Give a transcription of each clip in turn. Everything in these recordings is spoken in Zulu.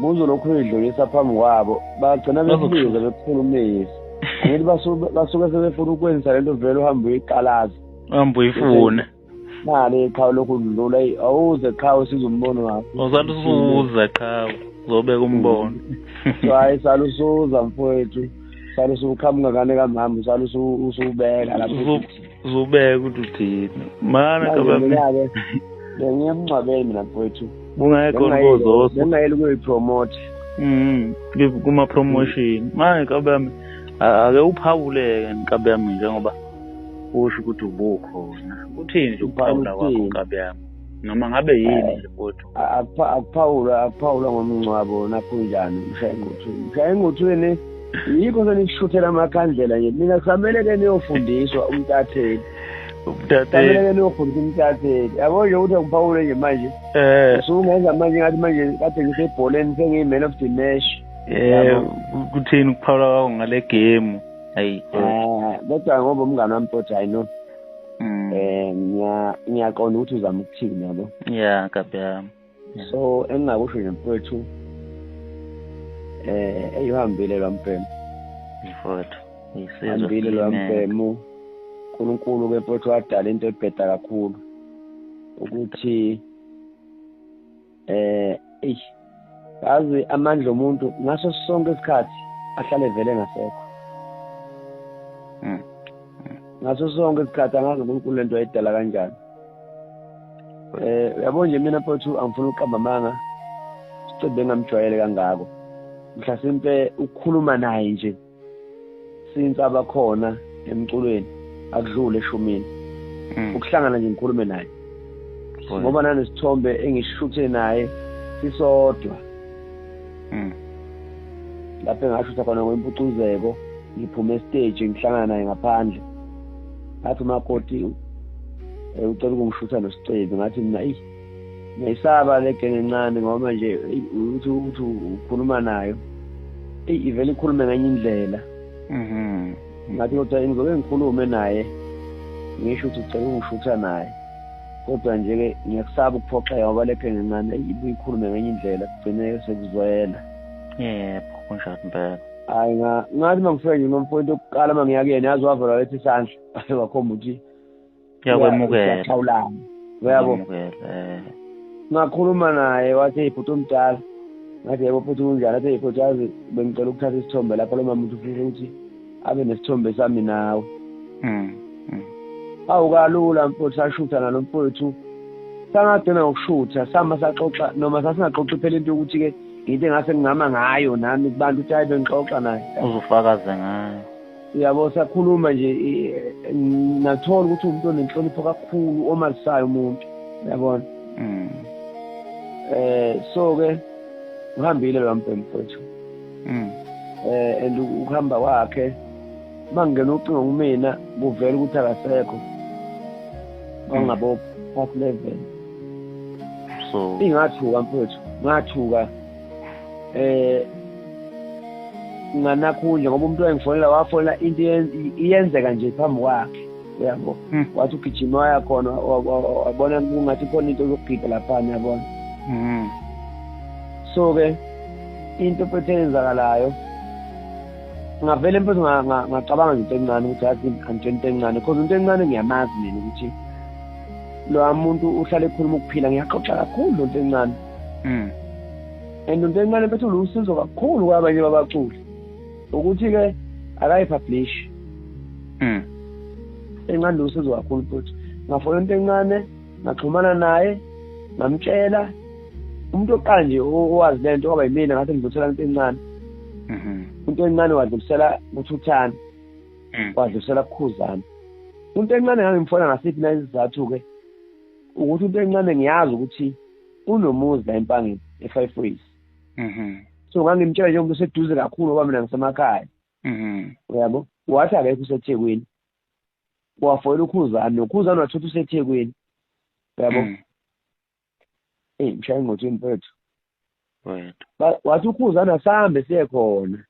muzo lokhu uyidlulisa phambi kwabo bagcina bekubiza bekukhulumisa ngithi basuke sebefuna ukwenzisa lento vele uhambe uyiqalaza uhambe uyifuna mali iqhawe lokhu udlula awuze qhawe siza umbono wakho usathi usuza qhawe uzobeka umbono so hayi sala usuza mfowethu sala usuqhamuka kane kamama sala usubeka lapho uzubeka ukuthi uthini mana kabamnake bengiye emngcwabeni mina mfowethu kungekho ngozoso bengayeli ukuyipromote mm kuma promotion manje kabami ake uphawuleke nkabi yami njengoba usho ukuthi ubukhona uthini nje ukuphawula kwakho nkabi yami noma ngabe yini nje futhi akuphawula akuphawula ngomngcwabo nakho njani mshaye ngothweni mshaye ngothweni yikho senisishuthela amakhandlela nje mina kusamele ke niyofundiswa umtatheli umtatheli ke niyofundisa umtatheli yabo nje ukuthi akuphawule nje manje eh. usungenza manje ngathi manje kade ngisebholeni sengiyi-man of the match eh kuthini ukuphawula kwakho ngale game ayi ah, kodwa ngoba umngane wami futhi i know mm. eh ngiya ngiyaqonda ukuthi uzama ukuthini yabo yeah kabi yami so engingakusho nje mfowethu eh eyihambile lo mfemo mfowethu isizwe hambile lo mfemo uNkulunkulu ke mfowethu wadala into ebheda kakhulu ukuthi eh eish yazi amandla omuntu ngaso sonke isikhathi ahlale vele ngasekho hmm. ngaso sonke isikhathi angazi uNkulunkulu lento ayidala kanjani eh yabo nje mina mfowethu angifuni ukuqamba amanga sicebe ngamjwayele kangako mhlasimpe ukukhuluma naye nje since abakhona emculweni akudlule eshumini hmm. ukuhlangana nje ngikhulume naye ngoba nanesithombe engishuthe naye sisodwa hmm. lapho engashutha khona kwempucuzeko ngiphume esiteji ngihlangana naye ngaphandle ngathi umakoti eh, ucela ukungishutha nosicebi ngathi mina eyi ngiyayisaba le genge encane ngoba nje uthi uthi ukhuluma nayo eyi ivele ikhulume ngenye indlela mhm. ngathi kodwa ngizoke ngikhulume naye ngisho ukuthi ucela ukungishutha naye kodwa nje-ke ngiyakusaba ukuphoxeka ngoba le genge encane ibuye ikhulume ngenye indlela kugcine sekuzwela yebo kunjalo impela hayi ngathi uma ngifike nje nomfowethu okuqala uma ngiya kuyena yazi wavela lethi isandla wakhomba ukuthi kuyakwemukela siyachawulana uyabo eh. ngakhuluma naye wathi ibhuti omdala ngathi yebo futhi kunjani athi ibhuti yazi bengicela ukuthatha isithombe lapho lo mama uthi ufisa ukuthi abe nesithombe sami nawe mm, mm. awu kalula mfowethu sashutha nalo mfowethu sangagcina ngokushutha sama saxoxa noma sasingaxoxi phela into yokuthi-ke into engase ngingama ngayo nami kubantu ukuthi hayi bengixoxa naye uzufakaze ngayo yabo sakhuluma nje nathola ukuthi umuntu onenhlonipho kakhulu omazisayo umuntu yabona mm. eh so ke uhambile lo mbhemu mfethu mm. eh and ukuhamba kwakhe mangena ucingo kumina kuvela ukuthi akasekho wangabo mm. past level so ingathuka mfethu ngathuka eh nganakhundla ngoba umuntu wayengifonela wafonela into iyenzeka nje phambi kwakhe uyabo hmm. wathi ugijima waya khona wabona kungathi khona into zokugida laphana yabona hmm. so-ke into phethe eyenzakalayo ngavele mfethu ngacabanga nje into encane ukuthi athi angitshela into encane because into encane ngiyamazi mina ukuthi lowa muntu uhlale ekhuluma ukuphila ngiyaxoxa kakhulu lo nto encane mm and into encane bethu lusizo kakhulu kwabanye babaculi ukuthi ke akayipublish mm encane lusizo kakhulu futhi ngafona into encane ngaxhumana naye ngamtshela umuntu oqanje owazi lento kwaba yimina ngathi ngidlulisela into encane mhm into encane wadlulisela kuthuthana mm. wadlulisela kukhuzana into encane ngangimfona ngasiphi na isizathu ke ukuthi into encane ngiyazi ukuthi unomuzi la empangeni e-five ways mhm. so ngangimtshela njengoba useduze kakhulu ngoba mina ngisemakhaya mhm. uyabo wathi akekho usethekwini wafoyela ukhuzani nokhuzani wathuthi usethekwini uyabo mhm. eyi mshaya ingotsheni mfethu wathi ukhuzani asambe siye khona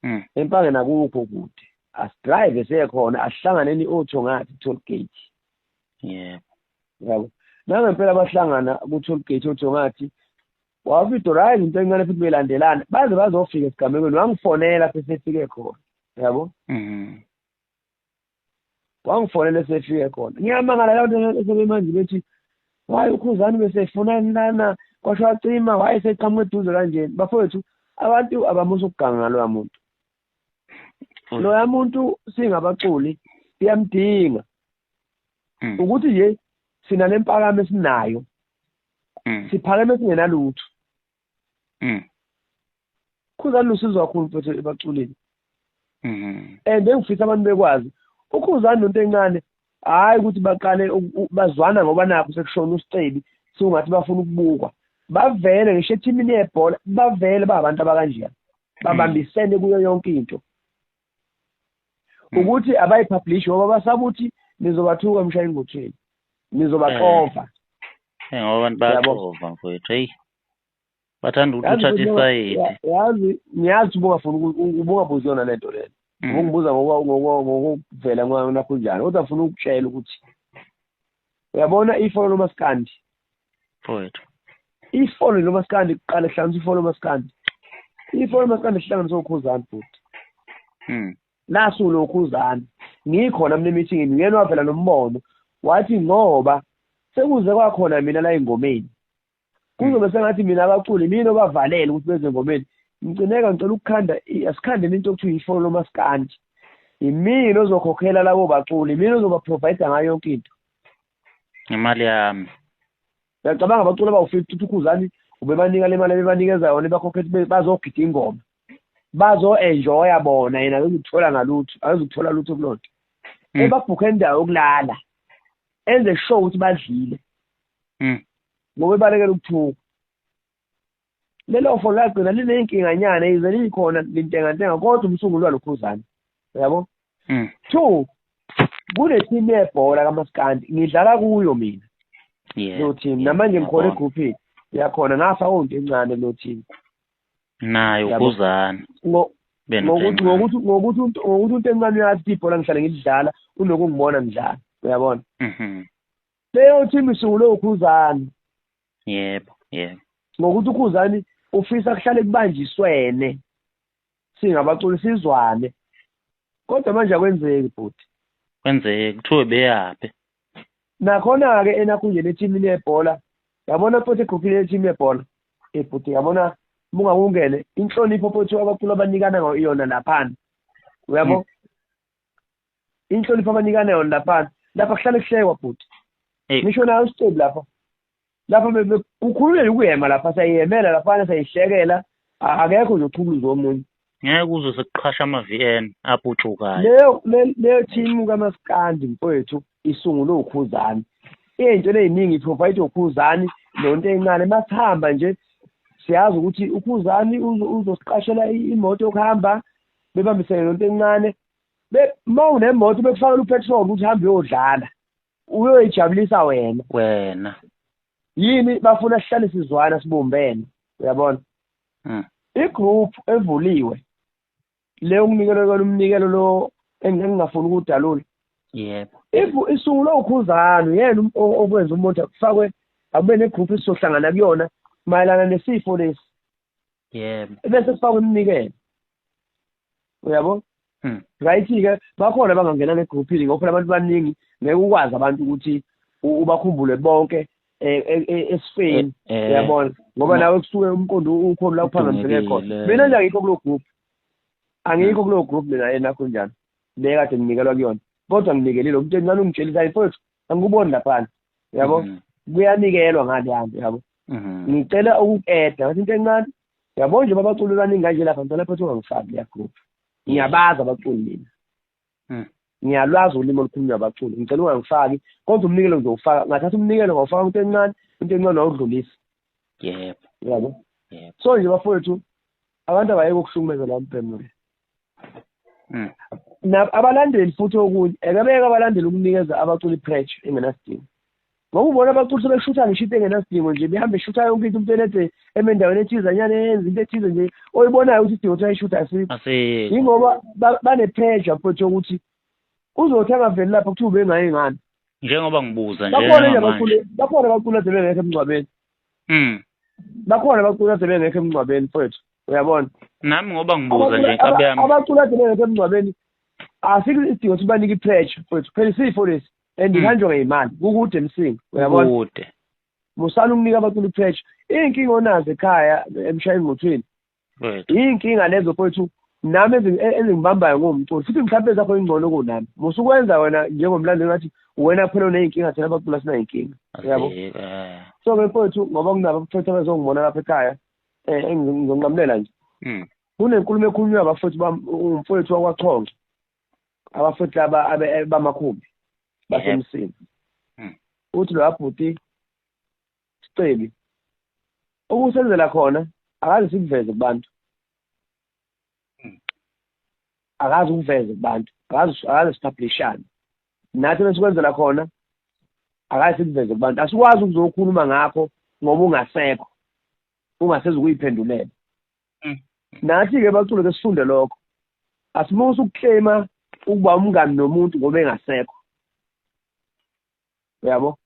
mm. empangeni akukho kude asidrive sekhona asihlangane ni-auto ngathi toll gate yebo yabo nangempela bahlangana ku-toll gate auto ngathi wavido right into encane futhi belandelana baze bazofika esigamekweni wangifonela sesefike khona yabo mm-hmm. wangifonela esefike khona ngiyamangala la bantu esebemanje bethi waye ukhuzani besefunani lana kwasho wacima waye seqhamuka eduze kanjeni bafowethu abantu abamusa ukuganga loya muntu mm. loya muntu singabaculi siyamdinga mm. ukuthi nje sina lempakamo esinayo mm. siphakeme singenalutho mm. khuzani lusizo kakhulu mfethu ebaculini mm-hmm. and engifisa abantu bekwazi ukhuzani nonto encane hhayi ukuthi baqale bazwana ngoba nakho sekushona usicebi siwungathi bafuna ukubukwa bavele ngisho ethimini yebhola bavele bahabantu abakanjena mm. babambisene kuyo yonke into hmm. ukuthi abayipublish ngoba basaba ukuthi nizobathuka mshaye ingotsheni nizobaxova eh. ngoba abantu bayaxova mfowethu heyi bathanda ukuthi uthathe isayidi yazi ngiyazi ubungafuni ubungabuzi yona le nto lena hmm. ubungibuza ngokuvela nakho njani kodwa funa ukutshela ukuthi uyabona ifolo lomaskandi mfowethu ifolo lomaskandi kuqala kuhlanganisa ifolo lomaskandi ifolo lomaskandi kuhlanganisa ukhuzani futhi hmm. nasu lokhuzani ngikhona mina emithingini uyena wavela nombono wathi ngoba sekuze kwakhona mina la engomeni kuzobe sengathi mina abaculi mina obavalele ukuthi beze ngomeni mcineka ngicela ukukhanda asikhandeni into okuthiwa ifolo lomasikandi imina ozokhokhela labo baculi imina ozobaprovide ngayo yonke into imali yami ngiyacabanga abaculi abawu-fifty uthukuzani ubebanika le mali ebebanikeza yona ebakhokhela bazogida ingoma bazo-enjoya bona yena akazukuthola ngalutho akazukuthola lutho kulonto hmm. ebabhukhe indawo yokulala enze sure ukuthi badlile mm. ngoba ebalekela ukuthuka lelo fo lagcina liney'nkinganyana yize liyikhona lintengantenga kodwa umsunguli walokhuzane yabo mm. two kunethimu yebhola kamaskandi ngidlala kuyo mina yeah, lo team yeah, namanje ngikhona egruphini yakhona ngafa onto encane lo team nayo kuzana ngokuthi ngokuthi ngokuthi ngokuthi into encane yathi ibhola ngihlale ngilidlala unokungibona ngidlala uyabona mhm. Leyo team isungulwe uKhuzani. Yebo, yebo. Ngokuthi uKhuzani ufisa kuhlale kubanjiswene singabaculi sizwane. Kodwa manje akwenzeki bhuti. Kwenzeke kuthiwe beyaphi. Nakhona-ke enakhunjeni ethimini yebhola yabona futhi egruphini lethimi yebhola ebhuti eh, yabona mungakungene inhlonipho futhi abaculi abanikana iyona laphana uyabo mm. inhlonipho abanikana yona laphana lapha kuhlale kuhlekwa bhuti ngisho nayo isicebi lapha lapha kukhululele ukuyema lapha sayihemela laphana sayihlekela akekho nje oqhukuluza omunye ngeke uzwe sekuqhasha ama-v n aputshukayo leyo leyo thimu kamasikandi mfowethu isungulwe ukhuzani ey'ntweni ey'ningi iprovide ukhuzani nonto encane masihamba nje siyazi ukuthi ukhuzani uzosiqashela imoto yokuhamba bebambisene nonto encane uma unemoto bekufanele upetrol ukuthi hambe uyodlala uyoyijabulisa wena wena yini bafuna sihlale sizwana sibumbene uyabona hmm. igroup evuliwe le unginikele kona umnikelo lo engingafuni ukudalula yebo if isungulwe ukhuzana uyena um, okwenza umuntu kufakwe akube negroup esizohlangana kuyona mayelana nesifo lesi yebo ebese kufakwa iminikelo uyabo hmm. right-ke bakhona bangangena negrouphini ngoba phela abantu baningi ngeke ukwazi abantu ukuthi ubakhumbule bonke e, e, e, esifeni eh, eh. uyabona ngoba nawe kusuke umqondo ukhona la uphazamiseke khona mina nje angikho kulo group angikho kulo group mina enakho njani le kade nginikelwa kuyona kodwa nginikelile umnteni nani ungitshelisa mfowethu angikuboni lapha yabo mhm. kuyanikelwa ngani yami yabo mhm. ngicela ukukeda wathi into encane yabo nje babaculi baningi kanje lapha ngicela phethu ungangifaki ya group ngiyabazi abaculi mina mhm. ngiyalwazi ulimi olukhulunywa abaculi ngicela ungangifaki kodwa umnikelo ngizowufaka ngathatha umnikelo ngawufaka into encane into encane wawudlulisa yebo yabo so nje bafowethu abantu abayeke ukuhlukumeza lami bhemule mm. abalandeli futhi okunye ekebeke abalandeli ukunikeza abaculi pressure engenasidingo ngoba ubona abaculi sebeshutha ngisho into engenasidingo nje behambe eshutha yonke into umuntu enede eme endaweni ethizanyana eyenza into ethize nje oyibonayo ukuthi isidingo ukuthi ayishutha asikho yingoba bane-pressure mfowethu yokuthi uzothi angaveli lapha kuthiwa ubengaye ngani njengoba ngibuza nje bakhona abaculi abaculi asebengekho emngcwabeni mm bakhona abaculi ade bengekho emngcwabeni mfowethu uyabona nami ngoba ngibuza nje nkabi yami abaculi ade bengekho emngcwabeni asikho isidingo ukuthi banike i-pressure mfowethu phela isifo lesi and hmm. ihanjwa ngeyimali kukude emsinga uyabona kude musani ukunika abaculi i-pressure iy'nkinga onazo ekhaya emshayeni ngothweni iy'nkinga lezo fowethu nami e-, ezingibambayo ngomculi futhi mhlawumbe zakho ingcono kunami musukwenza wena njengomlando ngathi wena kuphela uney'nkinga thina bacula sinay'nkinga yabo eh. so ke fowethu ngoba kunabo abaphetha bezongibona lapha ekhaya um engizonqamulela nje hmm. kunenkulumo ekhulunywa abafowethu umfowethu wakwachonge abafowethu laba bamakhumbi basemsini hmm. uthi lo abhuti Siceli. Okusenzela khona akaze sikuveze kubantu. Hmm. Akaze ukuveze kubantu. Akaze akaze sipublishane. Nathi besikwenzela khona akaze sikuveze kubantu. Asikwazi ukuzokhuluma ngakho ngoba ungasekho. Ungasezi ukuyiphendulela. Hmm. Nathi ke bacule ke sifunde lokho. Asimusa ukuclaima ukuba umngani nomuntu ngoba engasekho. uyabo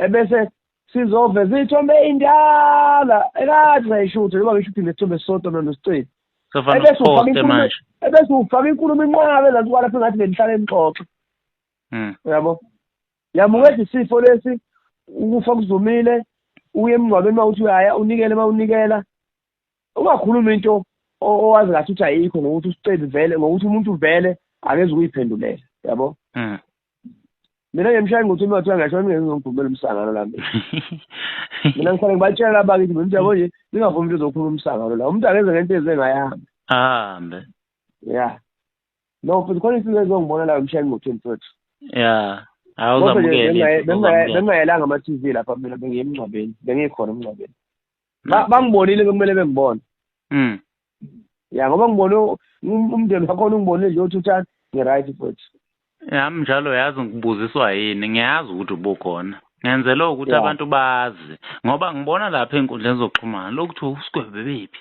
ebese sizoveza iy'thombe ey'ndala ekade sayishutha noma ngishuthe nesithombe sisodwa mina nosicebi ebese ufaka inkulumo inqabe ezansi kwalapho engathi benihlale nixoxe hmm. uyabo yamukethi isifo lesi ukufa kuzumile uye emngcwabeni uma uthi uyaya unikele uma unikela ungakhuluma into owazi ngathi ukuthi ayikho ngokuthi usicebi vele ngokuthi umuntu vele akeze ukuyiphendulela yabo hmm. mina ngiyemshaya ngokuthi uma kuthiwa ngasho ngizongivumela umsangano la mina mina ngifanele ngibatshela laba kithi mina yabo nje ningavumi into zokukhuluma umsangano la umuntu akeze ngento eze ngayahambe ahambe ya no futhi khona isinto ezongibona la ngimshaya ngokuthi mfowethu ya awuzamukele bengayelanga ama-tv lapha mina bengiyemngcwabeni bengikhona emngcwabeni Ba- bangibonile bekumele bengibone Mm. ya ngoba ngibone u- um- umndeni wakhona ungibonile nje uthi uthani ngi-right futhi Yami njalo yazi ngibuziswa yini ngiyazi ukuthi ubukhona. Ngenzela ukuthi Yeah. abantu bazi ngoba ngibona lapha enkundleni zokuxhumana lokuthi uSgwebe bephi.